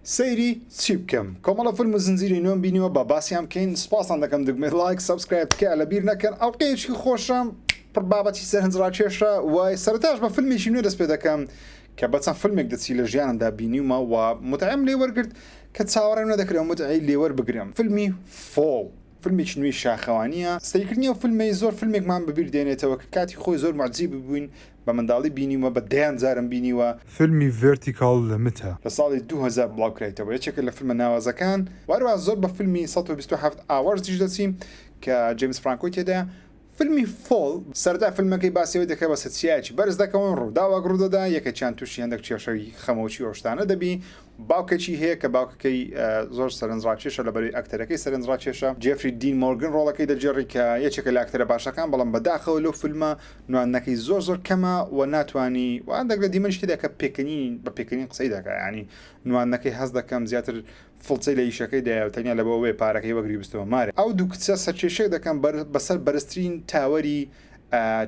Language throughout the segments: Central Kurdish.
سەیری چی بکەم کۆمەڵە فلم و زنجیرەی نوێم بینیوە با باسیان بکەین سوپاستان دەکەم دگمەی ڵایک سەبسکرایب تکایە لەبیر نەکەن ئەڵقەیەکی خۆشە پڕ بابەتی سەرنج ڕاکێشە وای سەرەتاش بە فلمێکی نوێ دەست پێ دەکەم کە بە چەند فلمێک دەچی لە ژیانمدا بینیومە و متعەم لێ وەرگرت کە چاوەڕێم نەدەکرێ متعەی لێ وەربگرم فلمی فۆڵ فلمێکی نوێی شاخەوانییە سەیرکردنی ئەو فلمەی زۆر فلمێکمان بەبیر دێنێتەوە کە کاتی خۆی زۆر موعجیب بووین بە منداڵی بینیومە بە دەیان جارم بینیوە. فیلمی ڤێرتیکاڵ لمتە. لە ساڵی دوو هەزار بڵاوکرایتەوە یەکێکە لە فیلمە ناوازەکان و هەروەها زۆر بە فیلمی سەد و بیست و حەفت ئاوەرز دیش دەچین کە جەیمس فرانکۆی تێدایە فیلمی فۆڵ، سەرەتای فیلمەکەی باسی ئەوەی دەکات بە سەرچیایەکی بەرز دەکەون ڕووداوەک ڕوودەدا یەکێکیان توشی هەندەک کێشەوی خەمۆکی و ئەوشتانە دەبی، باوکێکی هەیە کە باوکەکەی زۆر سەرنجڕاکێشە، لەبەرەی ئەکتەرەکەی سەرنجڕاکێشە، جێفری دین مۆرگن ڕۆڵەکەی دەگێڕی کە یەکێکە لە ئەکتەرە باشەکان، بەڵام بەداخەوە لەو فیلمە نواندنەکەی زۆر زۆر کەمە و ناتوانی و ئەندەک لە دیمەنی شتێدا کە پێکەنین بە پێکەنین قسەی دەکا یانی نواندنەکەی هەست دەکەم زیاتر فڵچەی لە ئیشەکەی دایە و تەنیا لەبەوەبێ پارەکەی وەگری بستەوە مارێ ئەو دوو کچە سەرکێشێک دەکەن بەسەر بەرزترین تاوەری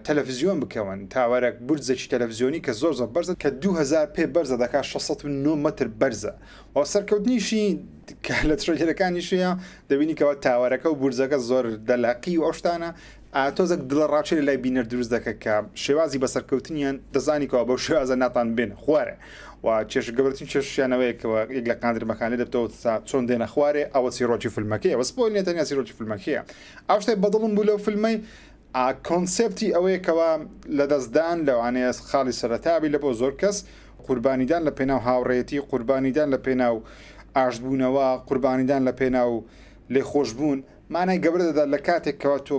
تەلەفزیۆن بکەون تاوەرەک بورجەکی تەلەفزیۆنی کە زۆر زۆر بەرزە کە دوو هەزار پێ بەرزە دەکات شەش سەد و نۆ مەتر بەرزە و سەرکەوتنیشی کە لە ترەیلەرەکانیشیە دەبینی کەەوە تاوەرەکە و بورجەکە زۆر دەلاقی و ئەو شتانە ئاتۆزەک دڵە ڕاچێ لای بینەر دروست دەکە کە شێوازی بە سەرکەوتنیان دەزانیکەوە بەو شێوازە ناتان بێنە خوارێ و چێش گەورتن چێشیانەوەیەکەوە یەک لە قاندرمەکانی دەبتەوە تا چۆن دێنە خوارێ ئەوە سیرۆکی فیلمەکەی ئەوە سپۆی نێتەنیا سیرۆکی فیلمەکەیە ئەو شتێ بەدڵم بوو لەو فیلمەی ئا کۆنسێپتی ئەوەیە کەوا لەدەستدان لەوانەیە خاڵی سەرەتا بی لەبۆ زۆر کەس، قوربانیدان لە پێناو هاوڕێیەتی، قوربانیدان لە پێناو ئاشتبوونەوە، قوربانیدان لە پێناو لێخۆشبوون مانای گەورە دەدات لە کاتێک کەوا تۆ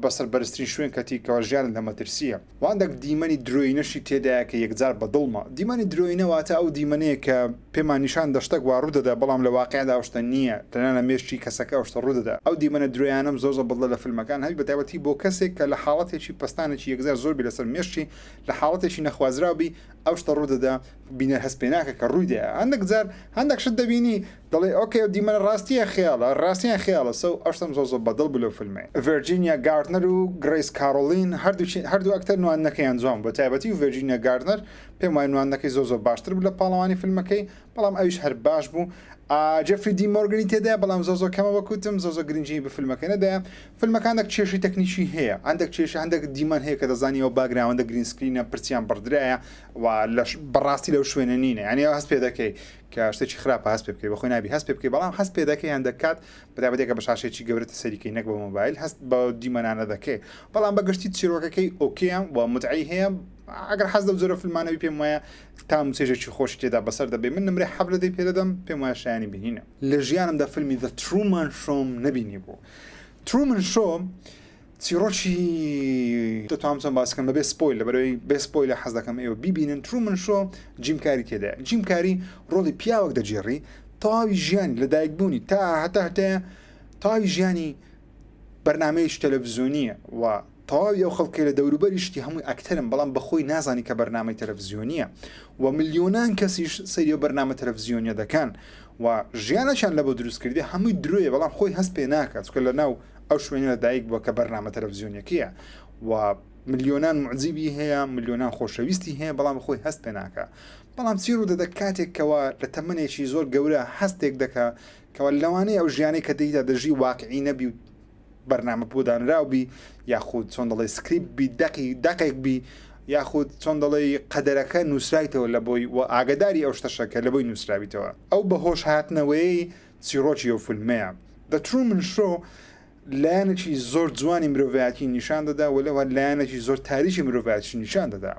بەسەر بەرزترین شوێن کەتی کەوا ژیانت لە مەترسییە. و هەندێک دیمەنی درۆینەشی تێدایە کە یەکجار بە دڵمە. دیمەنی درۆینە واتە ئەو دیمەنەیە کە پێمان نیشان دە شتەک وا ڕوودەدا بەڵام لە واقیعدا ئەو شتە نییە، تەنیا لە مێشکی کەسەکە ئەو شتە ڕوودەدا. ئەو دیمەنە درۆیانەم زۆر زۆر بەدڵە لە فیلمەکان، هەوی بەتایبەتی بۆ کەسێک کە لە حاڵەتێکی پەستانێکی یەکجار زۆر بی لەسەر مێشکی، لە حاڵەتێکی نەخوازراو بی ئەو شتە ڕوودەدا، بینەر هەست پێناکا کە ڕوویدایە. هەندێک جار هەندێک شت دەبینی. دەڵێ ئۆکەی ئەو دیمەنە ڕاستی یان خەیاڵە ڕاستی یان خەیاڵە سەو ئەشتەم زۆر زۆر بەدڵ بوو لەو فلمەی ڤێرجینیا گاردنەر و گرەیس کارۆڵین هەردووکی هەردوو ئەکتەر نواندنەکەیان جوان بوو بەتایبەتی ڤێرجینیا گاردنەر پێم وایە نواندنەکەی زۆر زۆر باشتر بوو لە پاڵەوانی فلمەکەی بەڵام ئەویش هەر باش بوو ئا جێفری دی مۆرگنی تێدایە بەڵام زۆر زۆر کەمە وەکو وتم زۆر زۆر گرنگی بە فلمەکەی نەدایە فلمەکە هەندێک کێشەی تەکنیکی هەیە هەندێک کێشە هەندێک دیمەن هەیە کە دەزانی ئەو باگراوەندە گرین سکرینە پرچیان بڕدرایە و لەش بەڕاستی لەو شوێنە نینە یانی هەست پێ دەکەی کە شتێکی خراپە هەست پێ بکەی بەخۆی نابی هەست پێ بکەی بەڵام هەست پێ دەکەی یان دەکات بەرابەت کە بە شاشێکی گەورەتە سەریکەی نەک بە مۆبایل هەست بە دیمەنانە دەکەی بەڵام بە گشتی چیرۆکەکەی ئۆکییان و متعی هەیە ئەگەر حەز لەو جۆرە فیلمانەوەی پێم وایە تام و چێژێکی خۆشی تێدا بەسەر دەبێ من نمرەی حەفت لە دەی پێ دەدەم پێم وایە شایانی بینینە لە ژیانمدا فیلمی The Truman Show نەبینیبوو Truman Show چیڕۆکی دەتوانم چۆن باس بکەم بەبێ سپۆیل لەبەرەوەی بێ سپۆیلە حەز دەکەم ئێوە بیبینن ترومن شۆ جیم کاری تێدایە جیم کاری ڕۆڵی پیاوەک دەجێڕی تەواوی ژیانی لە دایکبوونی تا هەتا هەتێ تاوی ژیانی بەرنمەیەش تەلەڤزیۆنیە و تەواوی ئەو خەڵکی لە دەوروبەریشتی هەمووی ئەکتەرم بەڵام بەخۆی نازانی کە بەرنمەی تەلەڤزیۆنیە و ملیۆنان کەسیش سەیری و بەرنمە تەلەڤزیۆنیە دەکەن و ژیانەشان لە بۆ دروستکردی هەمووی درۆیە بەڵام خۆی هەست پێ ناکات چکە لە ناو ئەو شوێنە لە دایک بووە کە بەرنامە تەلەڤزیۆنیەکەیە و ملیۆنان معجیبی هەیە ملیۆنان خۆشەویستی هەیە بەڵام خۆی هەست پێ ناکە بەڵام چی ڕوو دەدە کاتێک کەەوە لە تەمنێکی زۆر گەورە هەستێک دەکە کەەوە لەوانەیە ئەو ژیانی کە دەیدا دەژی واقعی نەبی و بەرنامە بۆدانراو بی یاخود چۆن دەڵێ سکریپ بی دەقی دەقێک بی یاخود چۆن دەڵێ قەدەرەکە نووسرایتەوە لە بۆی و ئاگداری ئەو شتەشەکە لە بۆی نووسراویتەوە ئەو بەهۆش هاتنەوەی چیڕۆکی ئەو فیلمەیە، The Truman Show، لایەنێکی زۆر جوانی مرۆڤایەتی نیشان دەدا و لەوە لایەنێکی زۆر تاریکی مرۆڤایەتیش نیشان دەدا.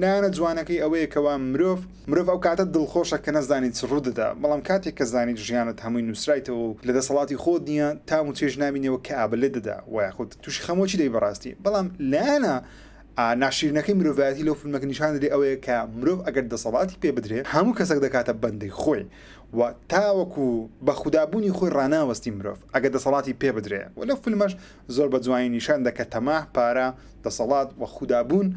لایەنە جوانەکەی ئەوەیە کەوا مرۆڤ مرۆڤ ئەو کاتە دڵخۆشە کە نەزانی چ ڕوودەدا، بەڵام کاتێک کە زانیت ژیانت هەمووی نووسرایتەوە و لە دەسەڵاتی خۆت نییە، تام و چێژ نابینی ئەوە کەئابە لێت دەدا و یاخود تووشی خەمۆکی دەبی بەڕاستی. بەڵام لایەنە ناشیرنەکەی مرۆڤایەتی لەو فیلمەکە نیشان دەدی ئەوەیە کە مرۆڤ ئەگەر دەسەڵاتی پێ بدرێ هەموو کەسەک دەکاتە بەندەی خۆی و تاوەکو بە خودا بوونی خۆی ڕاناوەستی مرۆڤ ئەگەر دەسەڵاتی پێ بدرێ و لەو فیلمەش زۆر بە جوانی نیشان دەکا تەماع، پارە، دەسەڵات و خودا بوون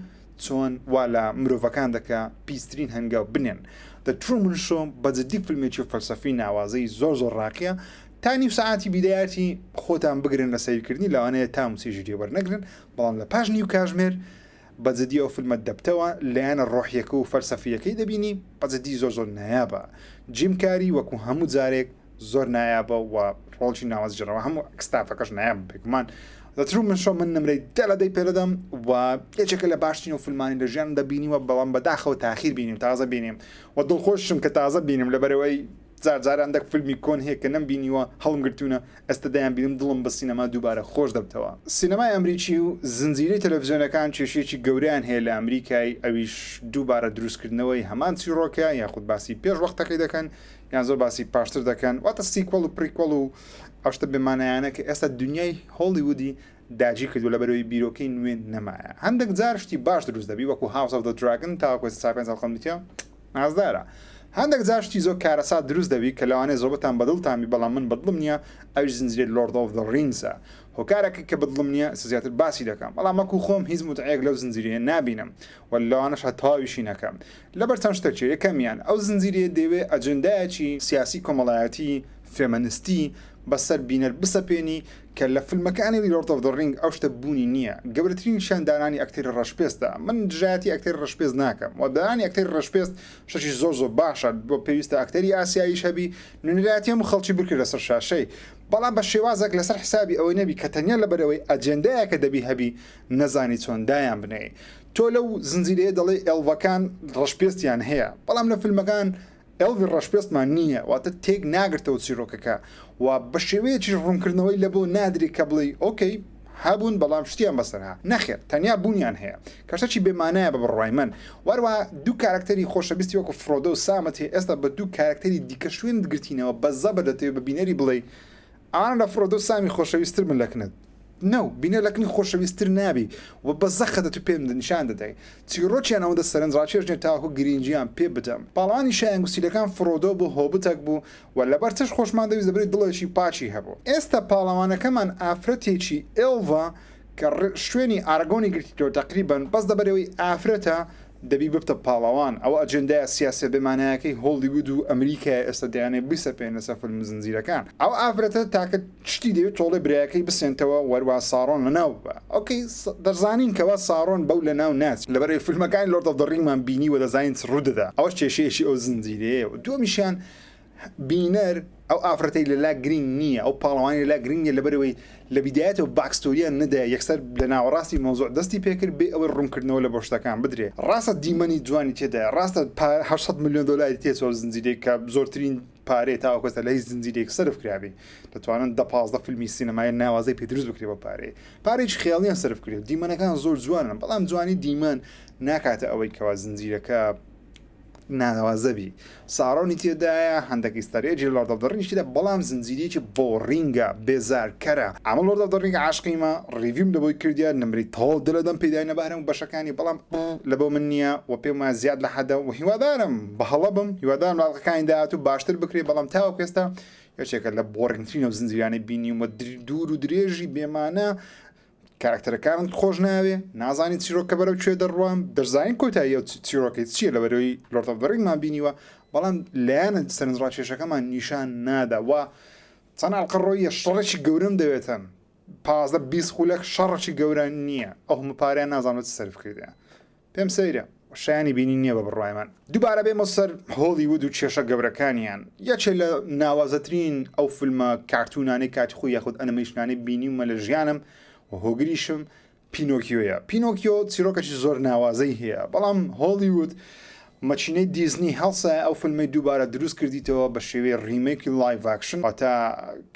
چۆن وا لە مرۆڤەکان دەکا پیسترین هەنگاو بنێن. The Truman Show بە جدی فیلمێکی فەلسەفی ناوازەی زۆر زۆر ڕاقیە تا نیو سەعاتی بیدایەتی خۆتان بگرن لە سەیرکردنی لەوانەیە تام و چێژی لێ وەرنەگرن بەڵام لە پاش نیو کاژمێر بە جدی ئەو فلمە دەبتەوە لایەنە ڕۆحیەکە و فەلسەفیەکەی دەبینی بە جدی زۆر زۆر نایابە جیم کاری وەکو هەموو جارێک زۆر نایابە و ڕۆڵی ناوەجگەرەوە هەموو ستافەکەش نایابە بێگومان The Truman Show من نمرەی دە لە دەی پێدەدەم و یەکێکە لە باشترین و فلمانی لە ژیانمدا بینیوە بەڵام بەداخەوە تاخیر بینیم تازە بینیم و دڵخۆشم کە تازە بینیم لەبەرەوەی جار جار ئەندەک فلمی کۆن هەیە کە نەم بینیوە هەڵم گرتونە ئێستا دەیان بینم دڵم بە سینەما دووبارە خۆش دەبتەوە. سینەمای ئەمریکی و زنجیرەی تەلەفزیۆنەکان کێشەیەکی گەورەیان هەیە لە ئەمریکای ئەویش دووبارە دروست کردنەوەی هەمان چیڕۆکە یاخود باسی پێش وەختەکەی دەکەن یان زۆر باسی پاشتر دەکەن واتە سیکوەڵ و پریکوەڵ و ئەو شتە بێ مانایانە کە ئێستا دونیای هۆڵیوودی داگیرکردووە لەبەرئەوەی بیرۆکەی نوێ نەمایە هەندەک جار شتی باش دروست دەبی وەکو هاوس ئۆف دە دراگن تاوەکو ئێستا چا پێنج ئەڵقەم دیتە نازدارە هەندەک جار شتی زۆر کارەسات دروست دەبی کە لەوانەیە زۆربەتان بەدڵتان بی بەڵام من بەدڵم نییە ئەویش زنجیرەی لۆرد ئۆف دە ڕینگسە هۆکارەکەی کە بەدڵم نییە ئێستا زیاتر باسی دەکەم بەڵام وەکو خۆم هیچ موتعەیەک لەو زنجیرەیە نابینم و لەوانەش هەر تەواویشی نەکەم لەبەر چەند شتەک چییە یەکەمیان ئەو زنجیرەیە دەیەوێ ئەجێندایەکی سیاسی کۆمەڵایەتی فێمەنستی بەسەر بینەر بسەپێنی کە لە فلمەکانی The Lord of the Ring ئەو شتە بوونی نییە، گەورەترین شان دانانی ئەکتەری ڕەشپێستە، من دژایەتی ئەکتەری ڕەشپێست ناکەم و دانانی ئەکتەری ڕەشپێست شتێکی زۆر زۆر باشە، بۆ پێویستە ئەکتەری ئاسیاییش هەبی، نوێنەرایەتی هەموو خەڵکی بکرێت لەسەر شاشەی، بەڵام بە شێوازێک لەسەر حسابی ئەوەی نەبی کە تەنیا لەبەرئەوەی ئەجێندایەکە دەبی هەبی نەزانی چۆن دایان بنێی، تۆ لەو زنجیرەیە دەڵێی ئێڵڤەکان ڕەشپێستیان هەیە، بەڵام لە فلمەکان. ئێلڤی ڕەشپێستمان نییە، واتە تێک ناگرتەوە چیرۆکەکە و بە شێوەیەکیش ڕوونکردنەوەی لەبۆ نادرێ کە بڵێی ئۆکەی هەبوون بەڵام شتیان بەسەر هات، نەخێر تەنیا بوونیان هەیە کە شتێکی بێ مانایە بە بڕوای من و هەروەها دوو کارەکتەری خۆشەویستی وەکو فرۆدۆ و سامت هەیە ئێستا بە دوو کارەکتەری دیکە شوێنت گرتینەوە بە زەبر دەتەوێ بە بینەری بڵێی ئەوانە لە فرۆدۆ و سامی خۆشەویست تر بن لە کنت. نو، بینەر لە کنی خۆشەویست تر نابی و بە زە خەتە تو پێم نیشان دەدەی چیڕۆکیان ئەوەندە سەرنج ڕاکێشنێ تاوەکو گرینگیان پێ بدەم. پاڵەوانی شایان گوسیلەکان فرۆدۆ بوو هۆبتەک بوو و لە بەر چەش خۆشمان دەویست لە بەری دڵێکی پاکی هەبوو. ئێستا پاڵەوانەکەمان ئافرەتێکی، ئێڵڤا، کە ڕ شوێنی ئارەگۆنی گرتیتۆ تەقریبەن بەس لەبەرئەوەی ئافرەتە دەبی ببتە پاڵەوان ئەوە ئەجێندایە سیاسیە بێ مانایەکەی هۆڵیوود و ئەمریکایە ئێستا دەیانەوێ بیسەپێنن لەسەر فلم زنجیرەکان ئەو ئافرەتە تاکە شتی دەوێ تۆڵەی برایەکەی بسێنتەوە و هەروا ساڕۆن لەناو ببا ئۆکەی دەزانین کەوا ساڕۆن بەو لەناو ناچێ لەبەرئەوەی فلمەکانی لۆرد ئۆف دە ڕینگمان بینیوە دەزانین چ ڕوودەدا ئەوەش کێشەیەکی ئەو زنجیرەیە و دووەمیشیان بینەر ئەو ئافرەتەی لەلا گرینگ نییە ئەو پاڵەوانی لەلا گرینگە لەبەرەوەی لە بیدایەتەوە باکستۆریان نەدایە یەکسەر لە ناوەڕاستی مەوزوع دەستی پێکرد بێ ئەوەی ڕوونکردنەوە لە بۆ شتەکان بدرێ ڕاستە دیمەنی جوانی تێدایە ڕاستە پا هەشت سەد ملیۆن دۆلاری تێچوە زنجیرەیەک کە زۆرترین پارەیە تاوەکو ئێستا لە هیچ زنجیرەیەک سەرف کرابێ دەتوانن دە پازدە فیلمی سینەمای ناوازەی پێ دروست بکرێ بە پارەیە پارەیەکی خەیاڵیان سەرف کرێ دیمەنەکان زۆر جوانن بەڵام جوانی دیمەن ناکاتە ئەوەی کەوا زنجیرەکە ناوا زەبی ساڕۆنی تێدایە هەندەک ئیستەرئێگی لۆرد ئۆف دە ڕینگی تێدایە بەڵام زنجیرەیەکی بۆڕینگە بێزار کەرە ئەمە لۆرد ئۆف دە ڕینگ عاشقیمە ڕیڤیوم لەبۆی کردیە نمرەی تەواو دە لەدەم پێداینە بە هەرەموو بەشەکانی بەڵام پڕ لەبۆ من نیە وە پێم وایە زیاد لە حەدە وە هیوادارم بە هەڵە بم هیوادارم لە ئەڵقەکانی داهاتوو باشتر بکرێ بەڵام تاوەکو ئێستا یەکێکە لە بۆڕینگترین و زنجیرانەی بینیومە دوور و درێژی بێمانا کاراکتەرەکانت خۆش ناوێ نازانی چیرۆکە بەرەو کوێ دەڕوان دەزانین کۆتایی ئەو چیرۆکەی چییە لە بەرەوەی لۆرد ئۆف دە ڕینگمان بینیوە بەڵام لایەنە سەرنجڕاکێشەکەمان نیشان نادا و چەند ئەڵقە ڕۆیە شەڕێکی گەورەم دەوێتن پازدە بیست خولەک شەڕێکی گەورە نییە ئەو هەموو پارەیان نازانم لە چ سەرف کردیان پێم سەیرە شایانی بینین نیە بە بڕوای من دوبارە بێمە سەر هۆڵیوود و کێشە گەورەکانیان یەکێ لە ناوازەترین ئەو فلمە کارتونانەی کاتی خۆی یاخود ئەنمیشنانەی بینیومە لە ژیانم و هۆگریشم پینۆکیۆیە پینۆکیۆ چیرۆکەکی زۆر ناوازەی هەیە بەڵام هۆڵیوود مەچینەی دیزنی هەڵسای ئەو فلمەی دووبارە دروست کردیتەوە بە شێوەی ڕیمێکی لایڤاکشن واتە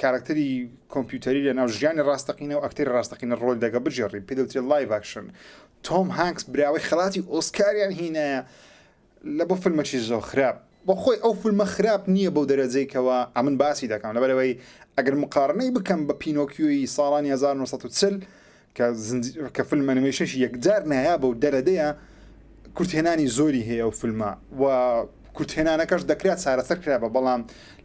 کارکتەری کۆمپیوتەری لە ناو ژیانی ڕاستەقینە و ئەکتەری ڕاستەقینە ڕۆل دەگە بژێڕی پێدەوترێت لایڤاکشن تۆم هانکس براوەی خەڵاتی ئۆسکاریان هینایە لە بۆ فلمەکی زۆر خراپ. بۆ خۆی ئەو فلمە خراپ نییە بەو دەرەجەی کەوا ئەمن باسی دەکەم لەبەر ئەوەی ئەگەر موقارنەی بکەم بە پینۆکیۆی ساڵانی هەزار و نۆ سەد و چل کە زنجی کە فلم ئەنیمەیشنێکی یەکجار نایابە و دەرەدەیە کورتهێنانی زۆری هەیە ئەو فلمە و کورتهێنانەکەش دەکرا چارەسەر کرابا بەڵام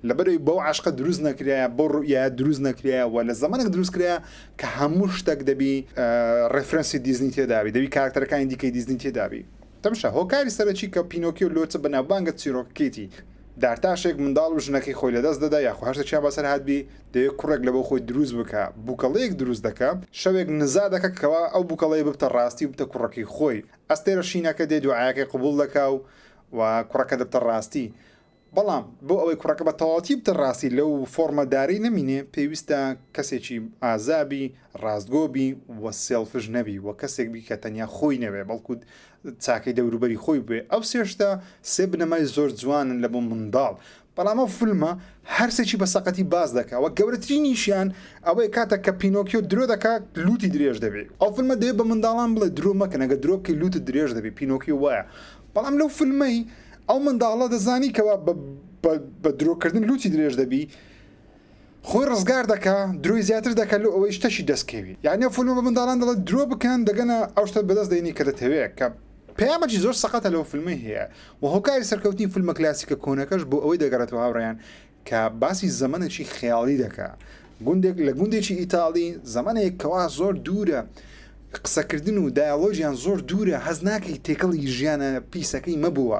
لەبەرئەوەی بەو عەشقە دروست نەکرایە، بەو ڕوئیایە دروست نەکرایە و لە زەمەنێک دروست کرایە کە هەموو شتەک دەبی ڕێفرەنسی دیزنی تێدابی، دەبی کاراکتەرەکانی دیکەی دیزنی تێدابی. تەمشا، هۆکاری سەرەکی کە پینۆکیۆ لۆچە بەناوبانگە چیرۆکەکەیەتی، دارتاشێک منداڵ و ژنەکەی خۆی لەدەست دەدا یاخۆ هەر شتێکیان بەسەر هاتبی، دەوێ کوڕێک لەبۆ خۆی دروست بکا، بووکەڵەیەک دروست دەکا، شەوێک نزا دەکا کەوا ئەو بووکەڵەیە ببتە ڕاستی و ببتە کوڕەکەی خۆی، ئەستێرە شینەکە دێ دوعایەکەی قبوڵ دەکا و کوڕەکە دەبتە ڕاستی. بەڵام بۆ ئەوەی کوڕەکە بە تەواوەتی بتە ڕاستی لەو فۆڕمە دارەی نەمینێ پێویستە کەسێکی ئازا بی، ڕاستگۆ بی و سێڵفش نەبی و کەسێک بی کە تەنیا خۆی نەوێ بەڵکو چاکەی دەوروبەری خۆی بوێ ئەو سێ شتە سێ بنەمای زۆر جوانن لە بۆ منداڵ بەڵام ئەو فلمە هەر سێکی بە سەقەتی باس دەکا وە گەورەترینیشیان ئەوەیە کاتێک کە پینۆکیۆ درۆ دەکا لووتی درێژ دەبێ ئەو فلمە دەبێ بە منداڵان بڵێ درۆ مەکەن ئەگەر درۆ بکەی لووتت درێژ دەبێ پینۆکیۆ وایە بەڵام لەو فلمەی ئەو منداڵە دەزانی کەوا بە بە درۆکردن لوتی درێژ دەبی خۆی ڕزگار دەکا درۆی زیاتر دەکە لۆ ئەوەی شتەشی دەستکەوی یعنی ئەو فلمە بە منداڵان دەڵێت درۆ بکەن دەگەنە ئەو شتە بەدەست دێنی کە دەتەوێت کە پەیامەکی زۆر سەقەتە لەو فلمەی هەیە و هۆکاری سەرکەوتنی فلمە کلاسیکە کۆنەکەش بۆ ئەوەی دەگەڕێتەوە هاوڕێیان کە باسی زەمەنێکی خەیاڵی دەکا گوندێک لە گوندێکی ئیتاڵی زەمەنێک کەوا زۆر دوورە قسەکردن و دایەڵۆجیان زۆر دوورە هەز ناکەی تێکەڵی ژیانە پیسەکەی مەبووە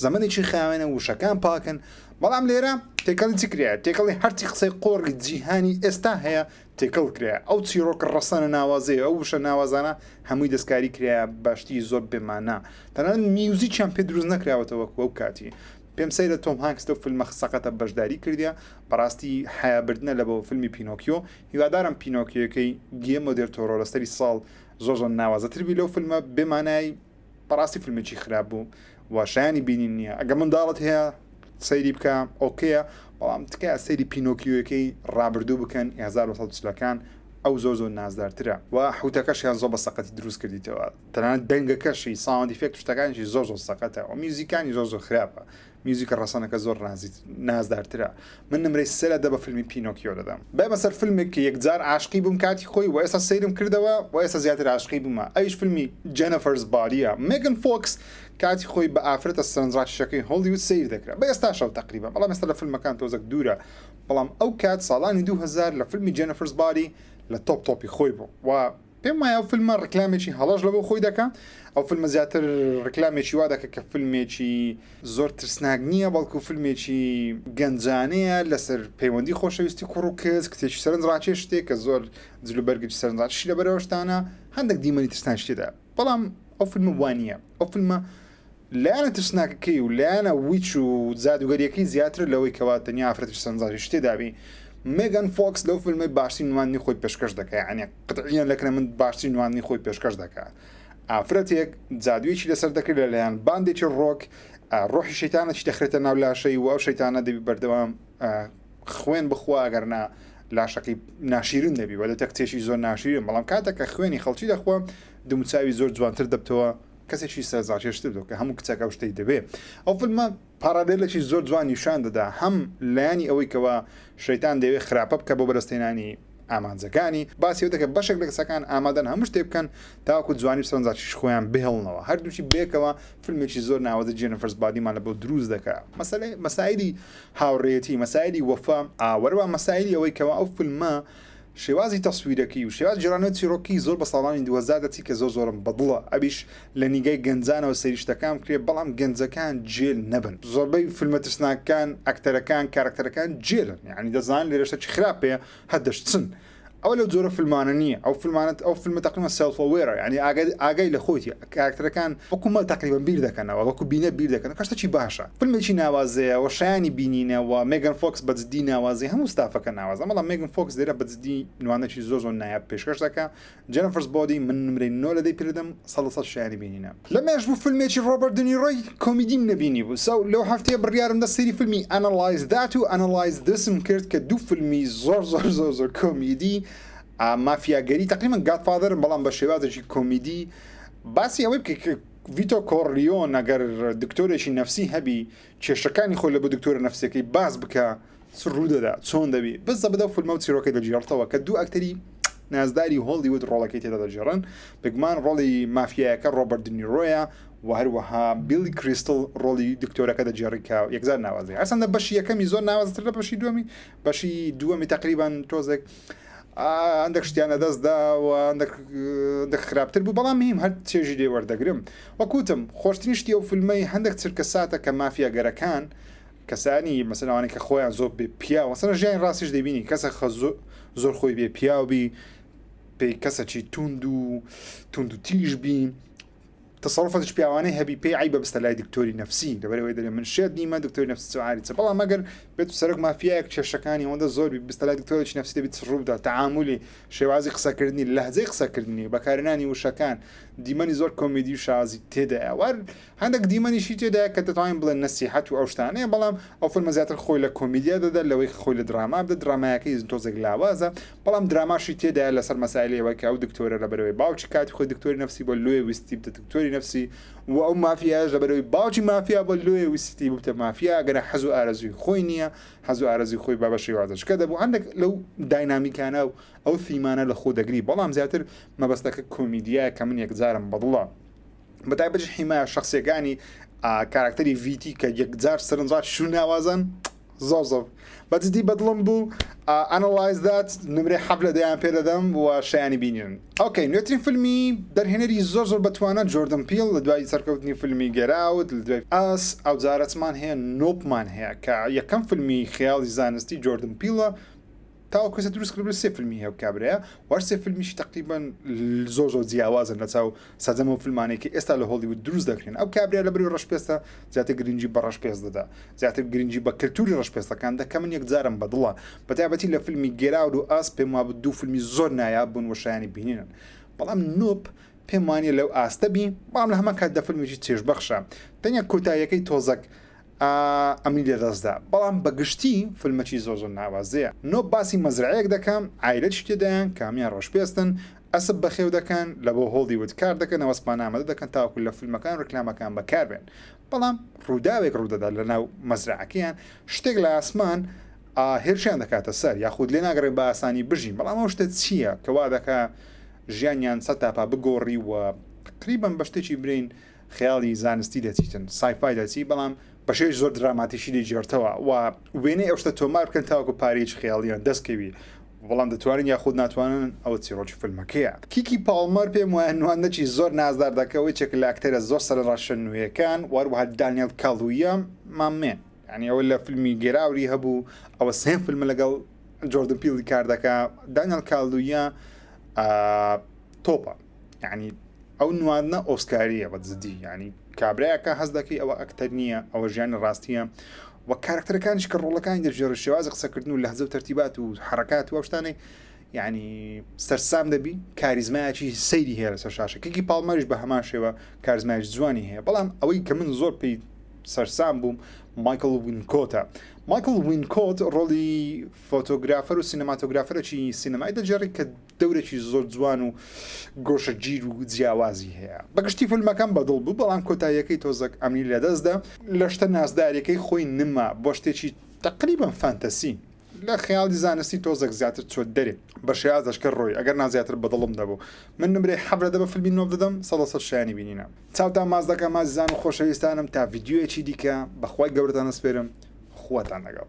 زەمەنێکی خاوێنە وشەکان پاکن بەڵام لێرە تێکەڵی چ کرێ تێکەڵی هەرچی قسەی قۆڕی جیهانی ئێستا هەیە تێکەڵ کرێ ئەو چیرۆکە ڕەسەنە ناوازەیە ئەو وشە ناوازانە هەمووی دەستکاری کرێە باشتی زۆر بێمانە تەنان میوزیکیان پێ دروست نەکراوەتەوە وەک وەو کاتی پێم سەیرە تۆم هانکس لەو فلمە سەقەتە بەشداری کردیە بەڕاستی حەیا بردنە لە بۆ فلمی پینۆکیۆ هیوادارم پینۆکیۆکەی گیێمۆ دێل تۆرۆ لە سەری ساڵ زۆر زۆر ناوازەتر بی لەو فلمە بێ مانای بەڕاستی فلمێکی خراپ بوو و شایانی بینین نییە ئەگە منداڵت هەیە سەیری بکە ئۆکەیە بەڵام تکایە سەیری پینۆکیۆکەی ڕابردوو بکەن 1940 کان ئەو زۆر زۆر نازدارترە و حوتەکەشیان زۆر بە سەقەتی دروست کردیتەوە تەنانەت دەنگەکەشی ساوند ئیفێکت و شتەکانیشی زۆر زۆر سەقەتە و میوزیکانی زۆر زۆر خراپە میوزیکە ڕەسەنەکە زۆر نازیت نازدارترە من نمرەی سێ لە دە بە فیلمی پینۆکیۆ دەدەم بەمە سەر فیلمێک کە یەکجار عاشقی بووم کاتی خۆی و ئێستا سەیرم کردەوە و ئێستا زیاتر عاشقی بوومە ئەویش فیلمی جێنەفەرز باریە مێگن فۆکس کاتی خۆی بە ئافرەتە سەرنجڕاکیشەکەی هۆڵیوود سەیر دەکرا بە ئێستاشەوە تەقریبا بەڵام ئێستا لە فیلمەکان تۆزەک دوورە بەڵام ئەو کات ساڵانی دوو هەزار لە فیلمی جێنەفەرز باری لە تۆپ تۆپی خۆی بوو و پێم وایە ئەو فیلمە ڕکلامێکی هەڵەش لەبۆ خۆی دەکا ئەو فیلمە زیاتر ڕکلامێکی وا دەکە کە فیلمێکی زۆر ترسناک نییە بەڵکو فیلمێکی گەنجانەیە لەسەر پەیوەندی خۆشەویستی کوڕ و کەس کتێکی سەرنج ڕاکێ شتێک کە زۆر جلو بەرگی سەرنجڕاکیشی لە بەرەوەشتانە هەندێک دیمەنی ترسناکشتێدا بەڵام ئەو فیلمە وانە ئەو فیلمە لایەنە ترسناکەکەی و لایەنە ویچ و جادووگەرییەکەی زیاترە لەوەی کەوا تەنیا ئافرەتیش سەرنجڕاکێش شتێ دابی مێگان فۆکس لەو فیلمەی باشترین نواندنی خۆی پێشکەش دەکا یانێ قەتعییەن لەکنە من باشترین نواندنی خۆی پێشکەش دەکا ئافرەتێک جادوویەکی لەسەر دەکرێت لەلایەن باندێکی ڕۆک ڕۆحی شەیتانەکی دەخرێتە ناو لاشەی و ئەو شەیتانە دەبی بەردەوام خوێن بخوا گەرنا لاشەکەی ناشیرن دەبی وە دەتە کچێکی زۆر ناشیرن بەڵام کاتێک کە خوێنی خەڵکی دەخوا دموچاوی زۆر جوانتر دەبتەوە کەسێکی سەرنجڕاکێشتر بوو کە هەموو کچێک ئەو شتەی دەوێ. ئەو فیلمە پاڕالێلێکی زۆر جوان نیشان دەدا هەم لایەنی ئەوەی کەوا شەیتان دەیەوێ خراپە بکا بۆ بەدەستهێنانی ئامانجەکانی، باسی ئەوە دەکا بەشێک لە کەسەکان ئامادەن هەموو شتێک بکەن تاوەکو جوانی و سەرنجڕاکێشی خۆیان بهێڵنەوە. هەردووکی بەیەکەوە فیلمێکی زۆر ناوازەی جێنیفەرس بادیمان لە بۆ دروست دەکا. مەسەلەی مەسایلی هاوڕێیەتی، مەسایلی وەفا، وەرەوە مەسایلی ئەوەی کەوا ئەو فیلمە شێوازی تەسویرەکەی و شێوازی جۆرانەوەی چیڕۆکی زۆر بە ساڵانی دوو هەزار دەچی کە زۆر زۆرم بە دڵە ئەویش لە نیگای گەنجانەوە سەیری شتەکان بکرێ بەڵام گەنجەکان جێل نەبن زۆربەی فیلمە ترسناکەکان ئەکتەرەکان کارەکتەرەکان جێلن یانی دەزانن لێرە شتەکی خراپ هەیە هەر دەشچن ئەوە لەو جۆرە فیلمانە نییە ئەو فیلمانە ئەو فیلمە تەقریبەن سێڵف ئەوێرە یانی ئاگای ئاگای لە خۆیتیە کاراکتەرەکان وەکو مەل تەقریبەن بیر دەکەنەوە وەکو بینەر بیر دەکەنەوە کە شتەکی باشە فلمێکی ناوازەیە و شایانی بینینە وە مێگەن فۆکس بە جدی ناوازەی هەموو ستافەکە ناوازە بەڵام مێگەن فۆکس لێرە بە جدی نوانەکی زۆر زۆر نایاب پێشکەش دەکا جێنفرس بۆدی من نمرەی نۆ لە دەی پێ دەدەم سەد لە سەد شایانی بینینە لەمێژ بوو فلمێکی ڕۆبەرت دنیرۆی کۆمیدیم نەبینی بوو سەو لەو هەفتەیە بڕیارم دا سەیری فلمی ئەنەڵایز دات و ئەنەڵایز دسم کرد کە دوو فلمی زۆر زۆر زۆر زۆر کۆمیدی مافیاگەری تەقریبەن گادفادەرن بەڵام بە شێوازێکی کۆمیدی باسی ئەوەی بکە کە ڤیتۆ کۆڕلیۆن ئەگەر دکتۆرێکی نەفسی هەبی کێشەکانی خۆی لە بۆ دکتۆرە نەفسەکەی باس بکە چ ڕوودەدا چۆن دەبی بەس دەبدە و فلمە و چیرۆکەی دەگێڕتەوە کە دوو ئەکتەری نازداری هۆڵیوود ڕۆڵەکەی تێدا دەگێڕن بگمان ڕۆڵی مافیایەکە ڕۆبەر دنیرۆیە و هەروەها بیلی کریستل ڕۆڵی دکتۆرەکە دەگێڕی کە یەکجار ناوازەیە هەرچەندە بەشی یەکەمی زۆر ناوازەتر لە بەشی دووەمی بەشی دووەمی تقریبان تۆزێک ئەندێک شتیان لەدەست دا و ئەندێک خراپتر بوو بەڵام هیم هەر چێژی لێ وەردەگرم وەکوتم خۆشتنی شتی ئەو فیلمەی هەندێک چرکە ساتە کە مافیا گەرەکان کەسانی مەسەلوانی کە خۆیان زۆر بێ پیا وەسەر ژیان ڕاستیش دەبینی کەسە خە زۆر خۆی بێ پیاوبی پێی کەسەکی توند و توند و تیژ بین تەسەڕوفەتش پیاوانەی هەبی پێی عەیبە بستە لای دکتۆری نەفسی لەبەر ئەوەی دەرێ من شێت نیمە دکتۆری نەفسی چ عاری چ بەڵام مەگەر بێت و سەرک مافیایەک کێشەکانی ئەوەندە زۆر بی بستە لای دکتۆرێکی نەفسی دەبیت ڕوودا تەعاملی شێوازی قسەکردنی لەهجەی قسەکردنی بەکارهێنانی وشەکان دیمەنی زۆر کۆمیدی و شازی تێدایە وار هەندێک دیمەنیشی تێدایە کە دەتوانین بڵێن نەسیحەت و ئەو شتانەیە بەڵام ئەو فیلمە زیاتر خۆی لە کۆمیدیا دەدا لەوەی خۆی لە دراما بدە درامایەکەی تۆزێک لاوازە بەڵام دراماشی تێدایە لەسەر مەسایلی ئەوەی کە ئەو دکتۆرە لەبەرەوەی باوکی کاتی خۆی دکتۆری نەفسی بۆ لۆیە ویستی بتە دکتۆری نەفسی و ئەو مافیایش لەبەرەوەی باوکی مافیا بۆ لۆیە ویستی ببتە مافیا گەرە حەز و ئارەزوی خۆی نییە حەز و ئارەزوی خۆی بابە شێوازەشکە دەبوو هەندێک لەو داینامیکانە و ئەو ثیمانە لە خۆ دەگری بەڵام زیاتر مەبەستەکە کۆمیدیا کە من یەکجارم بەدڵە بەتایبەت حیمایە شخصیەکانی کاراکتەری ڤیتی کە یەکجار سەرنجڕاکیش و ناوازەن زۆر زۆر بەجدی بەدڵم بوو ئەنڵایز دات نمرەی حەب لە دەیان پێدەدەم و شایانی بینیون ئۆکەی نوێترین فیلمی دەرهێنەری زۆر زۆر بەتوانە جۆردن پیل لە دوای سەرکەوتنی فیلمی گەراوت لە دوای ئاس ئەو جارەتمان هەیە نۆپمان هەیە کە یەکەم فیلمی خیاڵی زانستی جۆردن پیلە تاوەکو ئێستا دروست کردبێت سێ فیلمی هەیە ئەو کابرایە و هەر سێ فیلمیشی تەقریبەن زۆر زۆر جیاوازن لە چاو سەرجەم ئەو فیلمانەی کە ئێستا لە هۆڵیوود دروست دەکرێن ئەو کابرا لە بەری ڕەشپێستە زیاتر گرنگی بە ڕەشپێست دەدا زیاتر گرنگی بە کلتوری ڕەشپێستەکان دە کە من یەکجارم بەدڵە بە تایبەتی لە فیلمی گێراود و ئاس پێم وابوو دوو فیلمی زۆر نایاب بوون و شایانی بینینن بەڵام نوب پێم وانییە لەو ئاستە بی بەڵام لە هەمان کاتدا فیلمێکی چێژبەخشە تەنیا کۆتاییەکەی تۆزەک ئەمنی لەدەستدا بەڵام بەگشتی فلمەکی زۆر زۆر ناوازەیە نۆ باسی مەزرەعەیەک دەکا عایلەکی تێدایان کە هەموان ڕەش پێستن ئەسپ بەخێو دەکەن لەبۆ هۆڵی ود کار دەکەن ئەوە سپانە ئامادە دەکەن تاوەکو لە فلمەکان و ڕیکلامەکان بەکار بێن بەڵام ڕوداوێک ڕودەدا لەناو مەزرەعەکەیان شتێک لە ئاسمان ئا هێرشیان دەکاتە سەر یاخود لێ ناگەڕێن بە ئاسانی بژین بەڵام ئەو شتە چییە کەوا دەکا ژیانیان سەتاپا بگۆڕی و تقریبەن بە شتێکی برین خەیاڵی زانستی دەچیتن سایفای دەچی بەڵام بەشێش زۆر دراماتیشی دەیگێڕتەوە و وێنەی ئەو شتە تۆمار بکەن تاوەکو پارەیەکی خەیاڵییان دەستکەوی بەڵام دەتوانن یاخود ناتوانن ئەوە چیڕۆکی فیلمەکەیە. کیکی پاڵمەر پێم وایە نواندنەکی زۆر نازدار دەکا و یەکێکە لە ئەکتەرە زۆر سەرەڕەشە نوێیەکان و هەروەها دانیێڵ کالوویا ماممێ یانی ئەوە لە فیلمی گێراوری هەبوو ئەوە سێم فیلمە لەگەڵ جۆردن پیڵی کار دەکا دانیێڵ کالوویا تۆپە. یعنی ئەو نواندنە ئۆسکاریە بە جدی ینی کابراەکە هەز دەکەی ئەوە ئەکتەر نییە ئەوە ژیانی ڕاستیە و کارکتەرەکانش کە ڕۆڵەکانی دەژێڕ شێوازە قسەکردن و لەهزە و تەرتیبات و حرکات و شتانەی یعنی سەرسام دەبی کاریزمایکی سەیری هەیە لەسەر شاشە کەکی پاڵمەش بە هەمان شێوە کارزمایش جوانی هەیە بەڵام ئەوەی کە من زۆر پێی سەرسام بووم مایکل وینکۆتە مایکل وینکۆت ڕۆڵی فۆتۆگرافەر و سینەماتۆگرافەرەکی سینەمای دەجێڕی کە دەورێکی زۆر جوان و گۆشە گیر و جیاوازی هەیە بەگشتی فیلمەکەم بەدڵ بوو بەڵام کۆتاییەکەی تۆزەک ئەمنی لەدەستدا لە شتە نازدارەکەی خۆی نما بۆ شتێکی تقریبم فانتەسی لە خەیاڵی زانستی تۆزەک زیاتر چۆت دەرێ بە شێاز دەشکە ڕۆی ئەگەر نازیاتر بەدڵم دەبوو من نمرێ حەبرەدە بە فیلمی نۆ دەدەم سەدەسە شایانی بینینە چاوتان ماز دەکەم مازیزان و خۆشەویستانم تا ڤیددیوەکی دیکە بەخوای گەورەتان نەسپێرم خواتان لەگەڵ